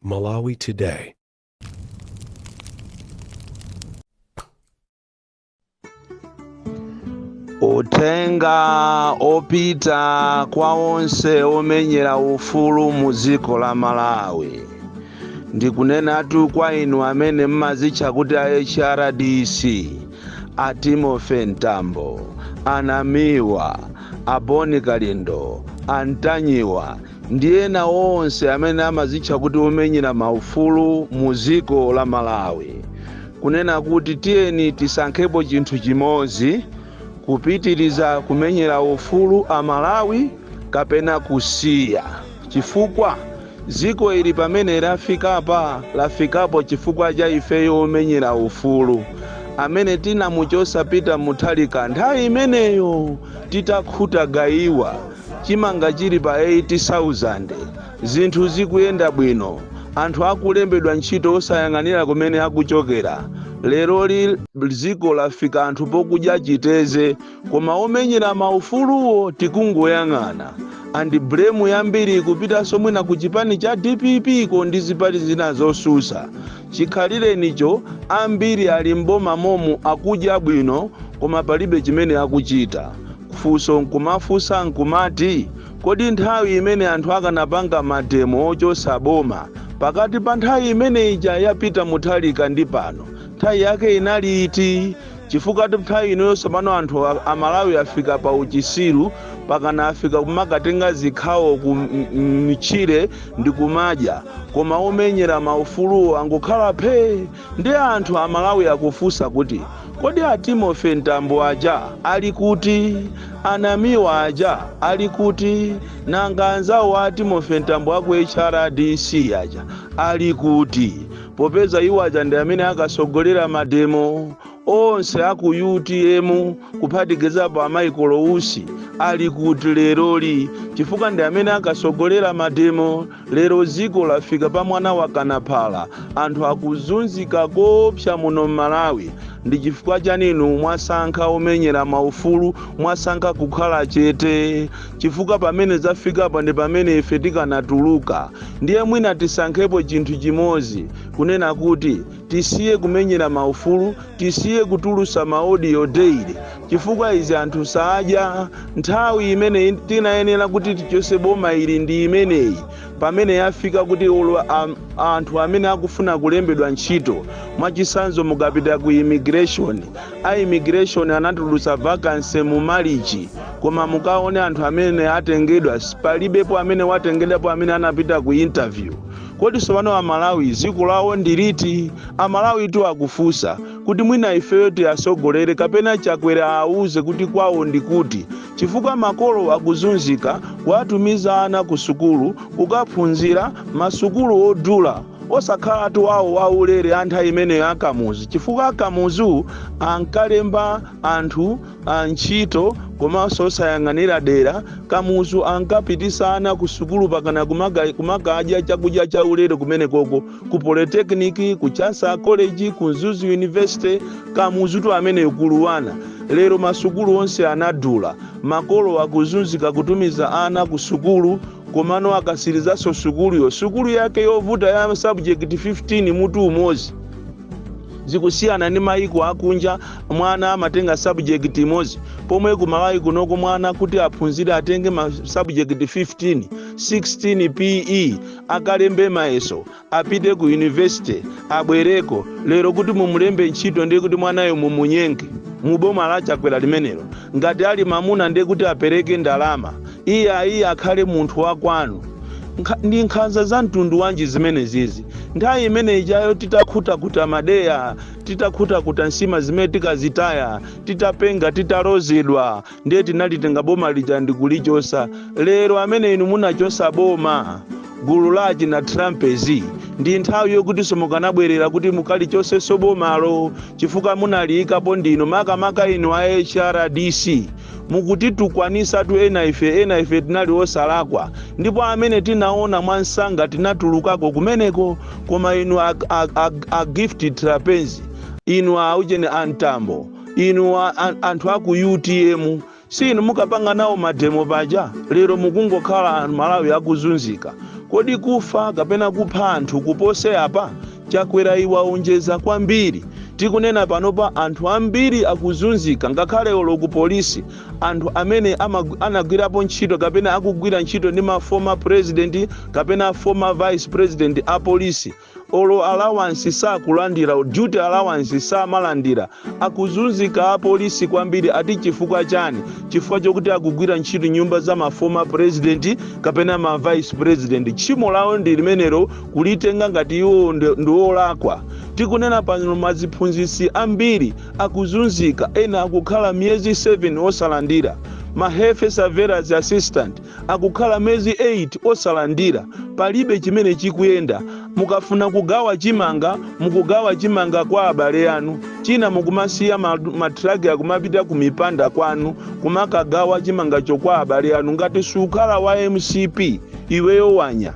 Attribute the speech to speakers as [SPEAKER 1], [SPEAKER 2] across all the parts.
[SPEAKER 1] Malawi Today.
[SPEAKER 2] Uthenga opita kwa onse omenyera ufulu mu dziko la Malawi ndikunenatu kwa inu amene mmazitcha kuti a HRDC a Timothy Mtambo, a Namiwa, a Boni Kalindo, a Ntanyiwa ndi ena onse amene amazitcha kuti omenyera maufulu mu dziko la Malawi kunena kuti tiyeni tisankhepo chinthu chimodzi kupitiriza kumenyera ufulu a Malawi kapena kusiya chifukwa Dziko ili pamene lafikapa, lafikapo chifukwa cha ifeyo omenyera ufulu amene tinamuchotsa Peter Mutharika nthawi imeneyo titakhuta gaiwa, chimanga chili pa 8,000, zinthu zikuyenda bwino, anthu akulembedwa ntchito osayang'anira kumene akuchokera. Leroli dziko lafika anthu pokudya chiteze. koma omenyera maufuluwo tikungoyang'ana and blame yambiri ikupitanso mwina ku chipani cha dpp ko ndi zipani zina zosusa. Chikhalirenicho ambiri ali m'boma momu akudya bwino koma palibe chimene akuchita. Funso nkumafunsa nkumati kodi nthawi imene anthu akanapanga mademo ochosa boma pakati pa nthawi imene ija ya Peter Mutharika ndi pano nthawi yake inali iti? Chifukwatu nthawi inoyo tsopano anthu a, a Malawi afika pa uchisiru pakana afika kumakatenga zikhawo ku m- m- mtchire ndi kumadya koma omenyera maufuluwo angokhala phee ndi anthu a Malawi akufunsa kuti kodi a Timothy Mtambo aja ali kuti a Namiwa aja ali kuti nanga anzawo a Timothy Mtambo aku HRDC aja ali kuti popeza iwo aja ndi amene akatsogolera mademo onse a ku utm kuphatikizapo a Michael Usi ali kuti leroli chifukwa ndi amene akatsogolera mademo lero dziko lafika pa mwana wa kanaphala anthu akuzunzika koopsa muno m'malawi ndi chifukwa chaninu mwasankha omenyera maufulu mwasankha kukhala chete Chifukwa pamene zafikapa ndi pamene ife tikanatuluka, ndiye mwina tisankhepo chinthu chimodzi, kunena kuti, tisiye kumenyera maufulu, tisiye kutulusa ma audio daily, chifukwa izi anthu sadya, nthawi imene tinayenera kuti tichose boma ili ndi imeneyi, pamene yafika kuti olo a, anthu amene akufuna kulembedwa ntchito, mwachisanzo mukapita ku immigration, a immigration anatulusa vacancy mu Malichi, Koma mukaone anthu amene atengedwa palibepo amene watengedwapo amene anapita ku interview. Kodi tsopano amalawi dziko lawo ndi liti? Amalawitu akufunsa kuti mwina ifeyo tiatsogolere kapena Chakwera aawuze kuti kwawo ndi kuti chifukwa makolo akuzunzika kuwatumiza ana kusukulu kukaphunzira masukulu odula osakhalatu awo aulere a nthawi imeneyo a Kamuzu chifukwa a Kamuzu ankalemba anthu ntchito komanso osayang'anira dera, Kamuzu ankapitisa ana ku sukulu pakana kumakadya chakudya cha ulere kumenekoko ku Polytechnic, ku Chansa College, ku Mzuzu University. Kamuzutu amene ukulu wana. Lero masukulu onse anadula, makolo akuzunzika kutumiza ana ku sukulu komano akasilizanso sukuluyo sukulu yake yovuta ya subject 15 mutu umodzi. zikusiyana ndi mayiko akunja mwana amatenga subject imodzi pomwe ku malawi kunoko mwana kuti aphunzire atenge ma subject 15 16 pena akalembe mayeso apite ku university abwereko lero kuti mumulembe ntchito ndiye kuti mwanayo mumunyenge muboma la chakwera limenelo Ngati ali mamuna ndiye kuti apereke ndalama iyayi akhale munthu wa kwanu, ndi nkhanza za mtundu wanji zimenezizi nthawi imene ijayo titakhutakuta madeya titakhutakuta nsima zimene tikazitaya titapenga titalozedwa ndiye tinalitenga boma lija ndikulichosa lero amene inu munachosa boma gulu la achina Trapence ndi nthawi yokutinso mukanabwerera kuti mukalichosenso bomalo chifukwa munaliyikapo ndinu makamaka inu a hrdc mukutitukwanisatu ena ife ena ife tinali osalakwa ndipo amene tinaona mwansanga tinatulukako kumeneko koma inu a, a, a, a gift trapence inu a ujeni a mtambo inu a, a, anthu aku utm Si inu mukapanga nawo mademo paja? Lero mukungokhala Malawi akuzunzika. Kodi kufa kapena kupha anthu kupose apa? Chakwerayi waonjeza kwambiri. Tikunena panopa anthu ambiri akuzunzika ngakhale olo ku police anthu amene anagwirapo ntchito kapena akugwira ntchito ndi ma former president kapena former vice president a police. olo allowance sakulandira duty allowance samalandira akuzunzika apolisi kwambiri ati chifukwa chani chifukwa chokuti akugwira ntchito nyumba za ma former president kapena ma vice president tchimo lawo ndi limenelo kulitenga ngati iwo ndi- ndi olakwa tikunena pano maziphunzitsi ambiri akuzunzika ena akukhala miyezi 7 osalandira ma health surveillance assistant akukhala mezi 8 osalandira palibe chimene chikuyenda mukafuna kugawa chimanga mukugawa chimanga kwa abale anu china mukumasiya ma- matraki akumapita kumipanda kwanu kumakagawa chimangacho kwa abale anu ngati suukhala wa mcp iweyo wanya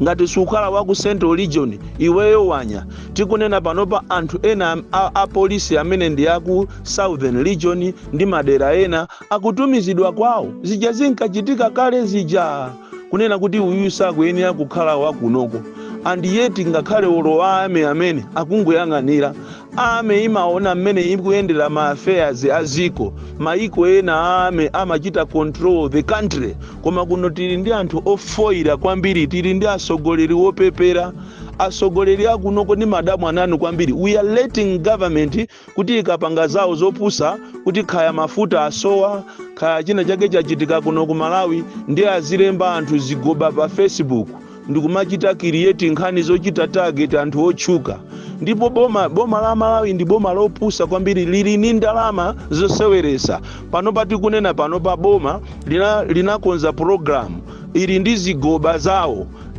[SPEAKER 2] ngati suukhala wa ku central region iweyo wanya tikunena panopa anthu ena a, a polisi amene ndi aku southern region ndi madera ena akutumizidwa kwawo zija zinkachitika kale zija kunena kuti uyu sakuyenera kukhala wakunoko and yet ngakhale olo army amene akungoyang'anira army imaona mmene ikuyendera ma affairs a dziko maiko ena army amachita control the country koma kuno tili ndi anthu ofoira kwambiri tili ndi atsogoleri opepera atsogoleri akunoko ndi madyamwanu kwambiri we are letting government kuti ikapanga zawo zopusa kuti kaya mafuta asowa kaya china chake chachitika kuno ku malawi ndi azilemba anthu zigoba pa facebook ndikumachita create nkhani zochita target anthu otchuka ndipo boma, boma la malawi ndi boma lopusa kwambiri lili ni ndalama zoseweretsa panopa tikunena panopa boma lina- linakonza program ili ndi zigoba zawo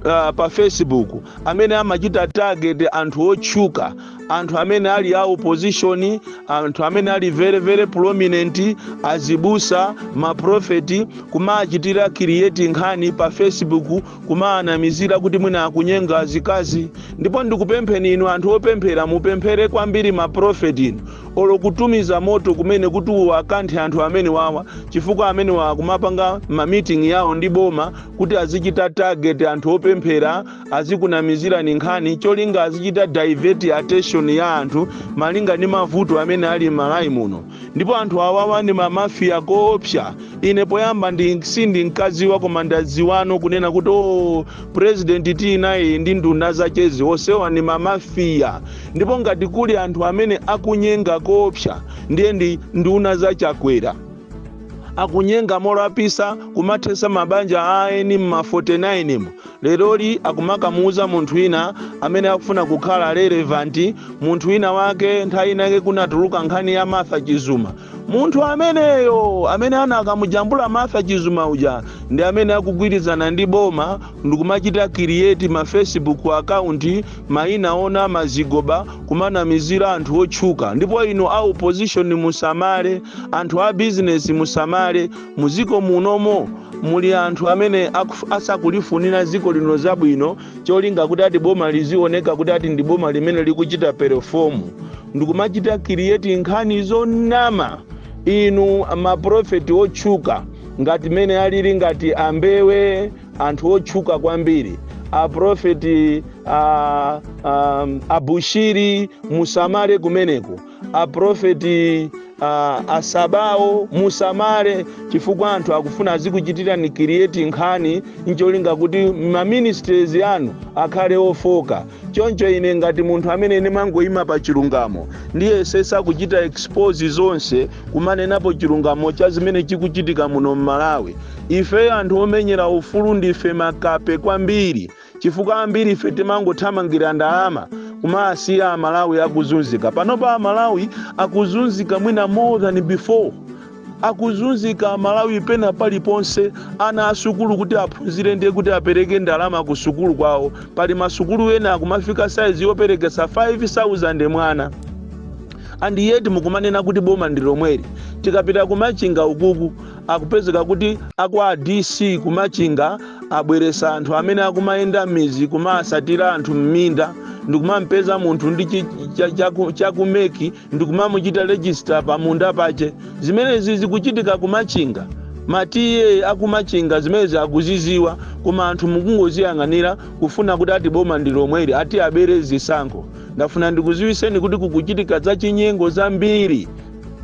[SPEAKER 2] uh, pa facebook amene amachita target anthu otchuka anthu amene ali a opposition anthu amene ali very very prominent azibusa maprofeti kumachitira create nkhani pa facebook kumaanamizira kuti mwina akunyenga azikazi ndipo ndikupempheni inu anthu opemphera mupemphere kwambiri maprofeti inu olo kutumiza moto kumene kuti uwakanthe anthu amenewawa chifukwa amenewa akumapanga ma meeting yawo ndi boma kuti azichita target anthu opemphera azikunamizirani nkhani cholinga azichita divert attention ya anthu malinga ndi mavuto amene ali m'malawi muno ndipo anthu awawa ndi mamafiya koopsa ine poyamba sindinkadziwa koma ndadziwano kunena kuti o president tinayi ndi nduna zachezi onsewa ndi mamafiya ndipo ngati kuli anthu amene akunyenga koopsa ndiye ndi nduna za chakwera akunyenga molapitsa kumathetsa mabanja a eni mma 49 mu Leroli akumakamuuza munthu wina amene akufuna kukhala relevant munthu wina wake nthawi ina yake kunatuluka nkhani ya Martha Chizuma. Munthu ameneyo amene anakamujambula Martha Chizuma uja ndi amene akugwirizana ndi boma ndikumachita create ma Facebook account maina onama zigoba kumaanamizira anthu otchuka. Ndipo inu a opposition musamale, anthu a business musamale. Muziko munomo muli anthu amene akuf, asakulifunira ziko lino zabwino cholinga kuti ati boma lizioneka kuti ati ndi boma limene likuchita perform ndikumachita create nkhani zonama inu maprofeti otchuka ngati mene alili ngati ambewe anthu otchuka kwambiri aprofeti a, a, abushiri musamale kumeneko aprofeti uh, a Sabao musamale chifukwa anthu akufuna azikuchitirani create nkhani ncholinga kuti maministries anu akhale ofoka choncho ine ngati munthu amene ine mangoyima pa chilungamo ndiyesesa kuchita expose zonse kumanenapo chilungamo cha zimene chikuchitika muno m'Malawi ifeyo anthu omenyera ufulu ndife makape kwambiri chifukwa ambirife timangothamangira ndalama kumasiya amalawi akuzunzika panopa amalawi akuzunzika mwina more than before akuzunzika amalawi pena paliponse ana asukulu kuti aphunzire ndiye kuti apereke ndalama ku sukulu kwawo pali masukulu ena akumafika saizi yoperekesa 5000 mwana and yet mukumanena kuti boma ndi lomweli tikapita kumachinga ukuku Akupezeka kuti akwa DC ku Machinga abweresa anthu amene akumayenda mmizi kumaasatira anthu mminda ndikumampeza munthu ndi chi, cha, cha, ku- cha ku MEC ndikumamuchita register pa munda pache. Zimenezi zikuchitika ku Machinga. Ma TA aku Machinga zimenezi akuziziwa koma anthu mukungoziyang'anira kufuna kuti ati boma ndi lomweli ati abere zisankho. Ndafuna ndikuziwiseni kuti kukuchitika zachinyengo zambiri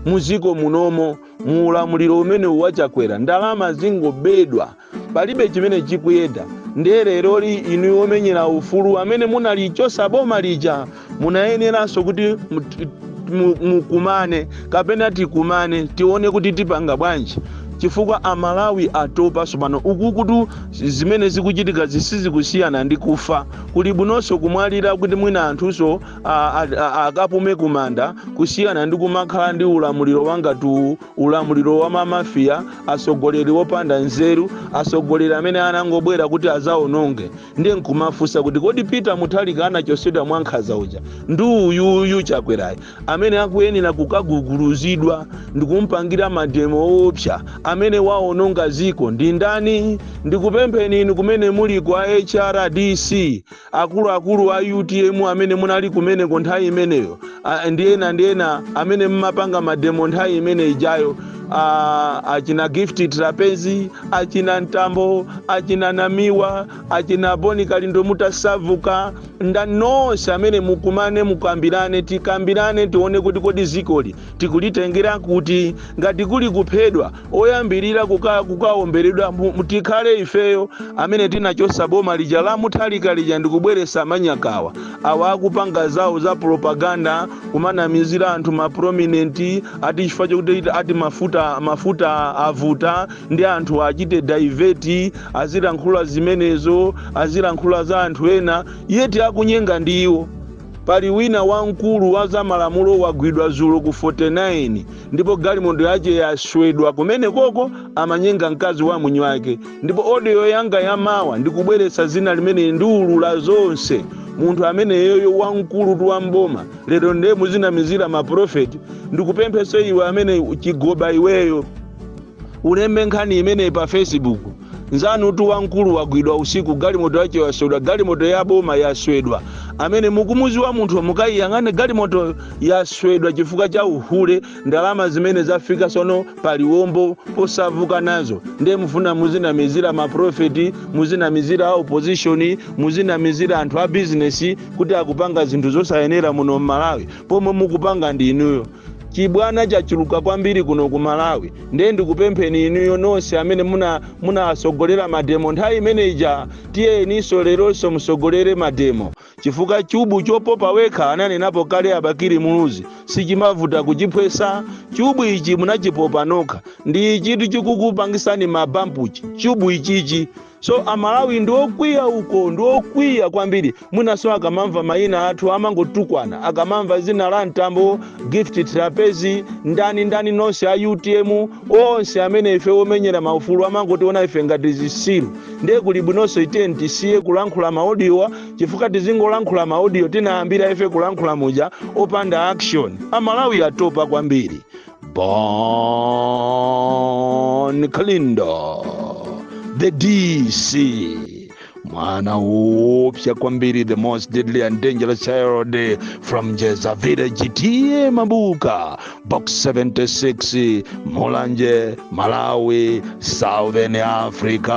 [SPEAKER 2] muziko munomo. mu ulamuliro umenewu wa chakwera ndalama zingobedwa palibe chimene chikuyenda ndiye leroli inu omenyera ufulu amene munalichosa boma lija mukuyeneranso kuti mu- ti- mu- mukumane kapena tikumane tione kuti tipanga bwanji chifukwa amalawi atopa sopano uku kuti zimene zikuchitika zisizikusiyana ndi kufa kuli bwinonso kumwalira kuti mwina anthunso a- a- a- akapume kumanda kusiyana ndi kumakhala ndi ulamuliro wangati uwu ulamuliro wa mamafiya atsogoleri opanda nzeru atsogoleri amene anangobwera kuti azaononge ndiye nkumafunsa kuti kodi peter mutharika anachosedwa mwa nkhaza uja ndi uyuyu chakwerayi amene akuyenera kukaguguluzidwa ndikumpangira mademo oopsa amene waononga ziko ndi ndani ndikupempheni inu kumene muliko a hrdc akuluakulu a utm amene munali kumeneko nthawi imeneyo ah, ndi ena ndi ena amene mmapanga mademo nthawi imene ijayo ah, achina gift trapence achina mtambo achina namiwa achina bon kalindo mutasavuka ndi nonse amene mukumane mukambirane tikambirane tione kuti kodi zikoli tikulitengera kuti ngati kuli kuphedwa oyambirira kuka kukawomberedwa mu- tikhale ifeyo amene tinachotsa boma lija la muthalika lija ndikubweretsa manyakawa awa akupanga zawo za propaganda kumanamizira anthu ma prominent ati chifukwa chokuti ati mafuta avuta ndi anthu achite divert azilankhula zimenezo azilankhula za anthu ena yet akunyenga ndi iwo pali wina wamkulu wa zamalamulo wagwidwa zulo ku 49 ndipo galimoto yache yaswedwa kumene koko amanyenga mkazi wa mwini wake ndipo audio yanga yamawa ndikubweretsa zina limene ndiulula zonse munthu ameneyoyo wamkulutu wa m'boma lero nde muzinamizira maprofeti ndikupemphenso iwe amene chigoba iweyo Ulembe nkhani imene pa Facebook. Nzanutu wamkulu wagwidwa usiku galimoto yache yaswedwa galimoto ya boma yaswedwa amene mukumudziwa munthu mukayiyang'ane galimoto yaswedwa chifukwa cha uhule ndalama zimene zafika tsono paliwombo posauka nazo nde mufuna muzinamizira maprofeti muzinamizira a opposition muzinamizira anthu a bizinesi kuti akupanga zinthu zosayenera muno m'Malawi pomwe mukupanga ndi inuyo Chibwana chachuluka kwambiri kuno ku Malawi nde ndikupempheni inuyo nonse amene munawatsogolera mademo nthawi imene ija tiyeninso leronso mutsogolere mademo chifukwa chubu chopopa wekha ananenapo kale a Bakili Muluzi sichimavuta kuchiphwetsa chubu ichi munachipopa nokha ndi chinthu chikukupangitsani ma bump chi chubu ichichi So amalawi ndiokwiya uko ndiokwiya kwambiri mwinanso akamamva mayina athu amangotukwana akamamva dzina la mtambo gift Trapence ndani ndani onse a utm onse amene ife omenyera maufulu amangotiona ife ngati zitsiru nde kuli bwinonso ife tisiye kulankhula ma audiowa chifukwa tizingolankhula ma audio tinayambira ife kulankhula muja opanda action amalawi atopa kwambiri Bon Kalindo, the DC, mwana upya kwambiri, the most deadly and dangerous child from Jeza Village, TM Mabuka, box 76, Mulanje, Malawi, Southern Africa.